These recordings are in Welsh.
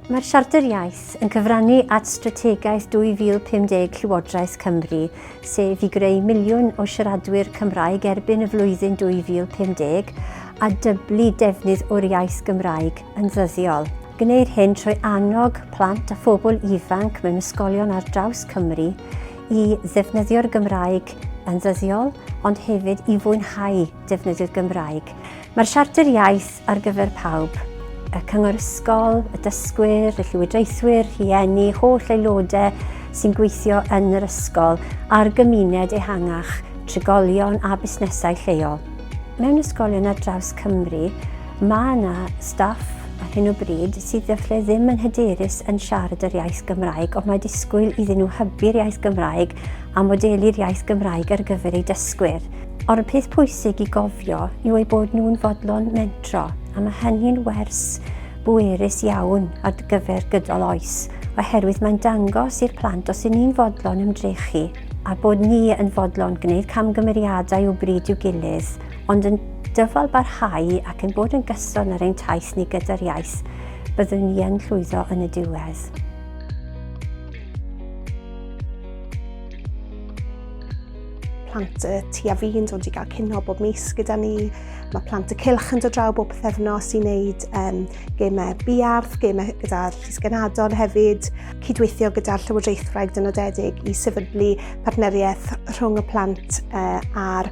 Mae'r Siarter Iaith yn cyfrannu at Strategaeth 2050 Llywodraeth Cymru, sef i greu miliwn o siaradwyr Cymraeg erbyn y flwyddyn 2050 a dyblu defnydd o'r iaith Gymraeg yn ddyddiol. Gwneir hyn trwy annog plant a phobl ifanc mewn ysgolion ar draws Cymru i ddefnyddio'r Gymraeg yn ddyddiol, ond hefyd i fwynhau defnyddio'r Gymraeg. Mae'r Siarter Iaith ar gyfer pawb, y Cyngor Ysgol, y dysgwyr, y llywodraethwyr, rhieni, holl aelodau sy'n gweithio yn yr ysgol a'r gymuned ehangach, trigolion a busnesau lleol. Mewn ysgolion ar draws Cymru, Mae yna staff ar hyn o bryd sydd efallai ddim yn hyderus yn siarad yr iaith Gymraeg, ond mae disgwyl iddyn nhw hybu'r iaith Gymraeg a modelu'r iaith Gymraeg ar gyfer eu dysgwyr. Ond y peth pwysig i gofio yw eu bod nhw'n fodlon mentro, a mae hynny'n wers bwerus iawn ar gyfer gydol oes, oherwydd mae'n dangos i'r plant os y'n ni'n fodlon ymdrechu a bod ni yn fodlon gwneud camgymeriadau o bryd i'w gilydd, Ond yn dyfal barhau ac yn bod yn gyson ar ein taith ni gyda'r iaith, byddwn ni yn llwyddo yn y diwedd. plant y tu a fi'n dod i gael cynho bob mis gyda ni. Mae plant y cilch yn dod draw bob pethefnos i wneud um, gemau biarth, gemau gyda'r llysgenadon hefyd, cydweithio gyda'r Llywodraethwraig dynodedig i sefydlu partneriaeth rhwng y plant uh, a'r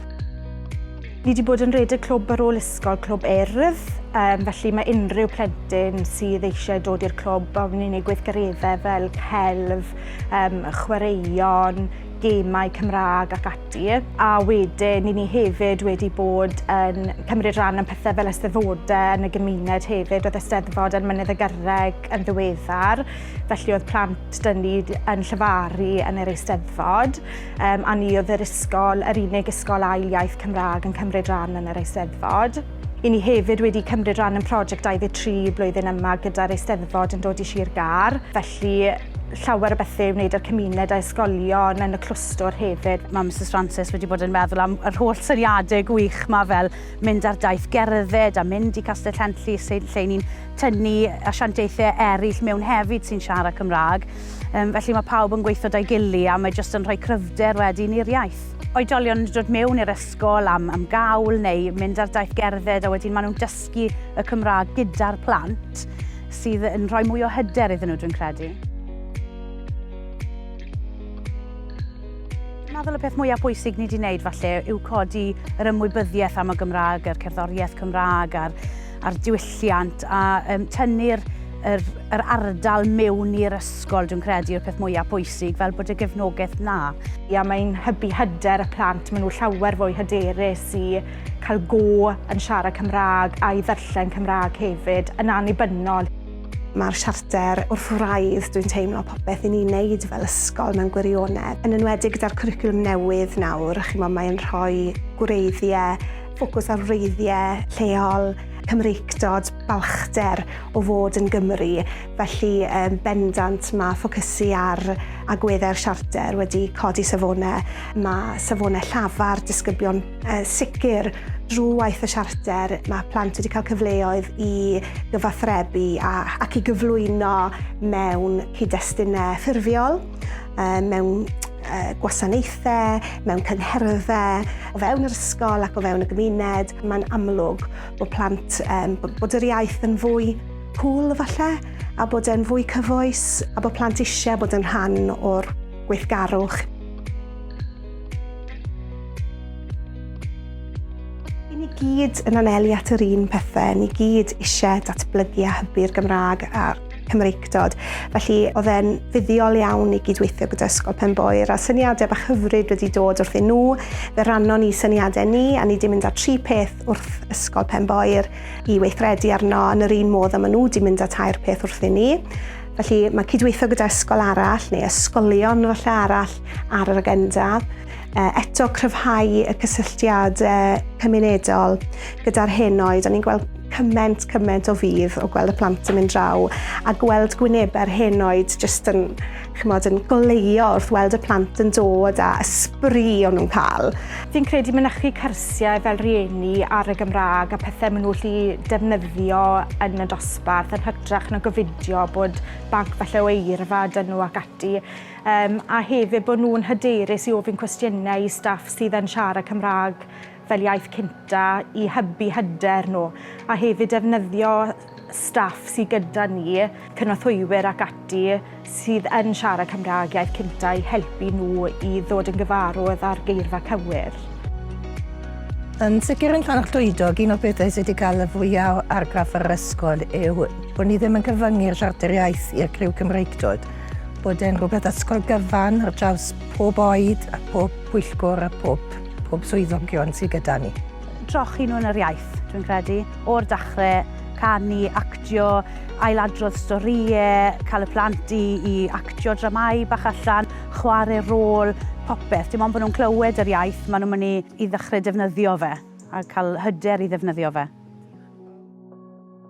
Ni wedi bod yn rhedeg clwb ar ôl ysgol, clwb erf, um, felly mae unrhyw plentyn sydd eisiau dod i'r clwb a wneud ei gweithgareddau fel celf, um, chwaraeon, gemau Cymraeg ac ati. A wedyn, ni ni hefyd wedi bod yn cymryd rhan yn pethau fel ysteddfodau yn y gymuned hefyd. Oedd ysteddfod yn Mynydd y Gyrreg yn ddiweddar, felly oedd plant dyn ni yn llyfaru yn yr eisteddfod. Um, a ni oedd yr ysgol, yr unig ysgol ail iaith Cymraeg yn cymryd rhan yn yr Eisteddfod. I ni hefyd wedi cymryd rhan yn prosiect 23 blwyddyn yma gyda'r Eisteddfod yn dod i Sir Gar, felly llawer o bethau i wneud â'r cymuned a ysgolion yn y clwstwr hefyd. Mae Mrs Francis wedi bod yn meddwl am yr holl syniadau gwych yma fel mynd ar daith gerdded a mynd i Castell Henllys lle ni'n tynnu asiantaethau eraill mewn hefyd sy'n siarad Cymraeg. Um, felly mae pawb yn gweithio da'i gili a mae jyst yn rhoi cryfder wedyn i'r iaith oedolion yn dod mewn i'r ysgol am, am gawl neu mynd ar daith gerdded a wedyn maen nhw'n dysgu y Cymraeg gyda'r plant sydd yn rhoi mwy o hyder iddyn nhw, dwi'n credu. meddwl y peth mwyaf bwysig ni wedi wneud falle yw codi yr ymwybyddiaeth am y Gymraeg, yr cerddoriaeth Cymraeg a'r a'r diwylliant a um, tynnu'r yr, yr ardal mewn i'r ysgol, dwi'n credu, yw'r peth mwyaf pwysig, fel bod y gefnogaeth na. Ia, mae'n hybu hyder y plant, maen nhw llawer fwy hyderus i cael go yn siarad Cymraeg a'i ddarllen Cymraeg hefyd, yn annibynnol. Mae'r siarter wrth wraidd, dwi'n teimlo popeth i ni'n neud fel ysgol mewn gwirionedd. Yn enwedig gyda'r cwricwlwm newydd nawr, chi'n mae'n rhoi gwreiddiau ffocws ar wreiddiau lleol, Cymreictod, balchder o fod yn Gymry, felly um, bendant mae ffocysu ar agweddau'r siarter wedi codi safonau. Mae safonau llafar disgyblion uh, sicr drwy waith y siarter. Mae plant wedi cael cyfleoedd i gyfathrebu a, ac i gyflwyno mewn cyd-destunau ffurfiol. mewn gwasanaethau, mewn cyngherddau, o fewn yr ysgol ac o fewn y gymuned, mae'n amlwg bod plant, um, bod yr iaith yn fwy cool falle, a bod e'n fwy cyfoes, a bod plant eisiau bod yn rhan o'r gweithgarwch. I ni gyd yn anelu at yr un pethau, ni gyd eisiau datblygu a hybu'r Gymraeg a'r Cymreictod. Felly oedd e'n fuddiol iawn i gydweithio gyda Ysgol Penboer a syniadau bach hyfryd wedi dod wrthyn nhw. Fe rannon ni syniadau ni a ni wedi mynd â tri peth wrth Ysgol Penboer i weithredu arno yn yr un modd a maen nhw wedi mynd â tair peth wrthyn ni. Felly mae cydweithio gyda ysgol arall neu ysgolion falle arall ar yr agenda. eto cryfhau y cysylltiad cymunedol gyda'r henoed. O'n ni'n gweld cyment, cyment o fydd o gweld y plant yn mynd draw a gweld gwynebau'r henoed jyst yn, chymod, yn goleio wrth weld y plant yn dod a ysbri o'n nhw'n cael. Fi'n credu mynychu cyrsiau fel rieni ar y Gymraeg a pethau maen nhw'n lli defnyddio yn y dosbarth yn hytrach na gofidio bod banc falle o eirfa dyn nhw ac ati. Yym, a hefyd bod nhw'n hyderus i ofyn cwestiynau i staff sydd yn siarad Cymraeg fel iaith cynta i hybu hyder nhw, a hefyd defnyddio staff sydd gyda ni, cynorthwywyr ac ati, sydd yn siarad Cymraeg iaith cynta i helpu nhw i ddod yn gyfarwydd â'r geirfa cywir. Yn sicr yn Llanfair Llwydog, un o'r pethau sydd wedi cael y fwyaf o argraff ar yr ysgol yw bod ni ddim yn cyfyngu'r siarter iaith i'r criw Cymreictod. bod e'n rhywbeth ysgol gyfan ar draws pob oed a pob pwyllgwr a pob, pob swyddogion sydd gyda ni. Trochi nhw yn yr iaith, dwi'n credu, o'r dachrau, canu, actio, ailadrodd storïau, cael y plant i, i actio dramau bach allan, chwarae rôl, popeth. Dim ond bod nhw'n clywed yr iaith, maen nhw'n mynd i, i ddechrau defnyddio fe a cael hyder i ddefnyddio fe.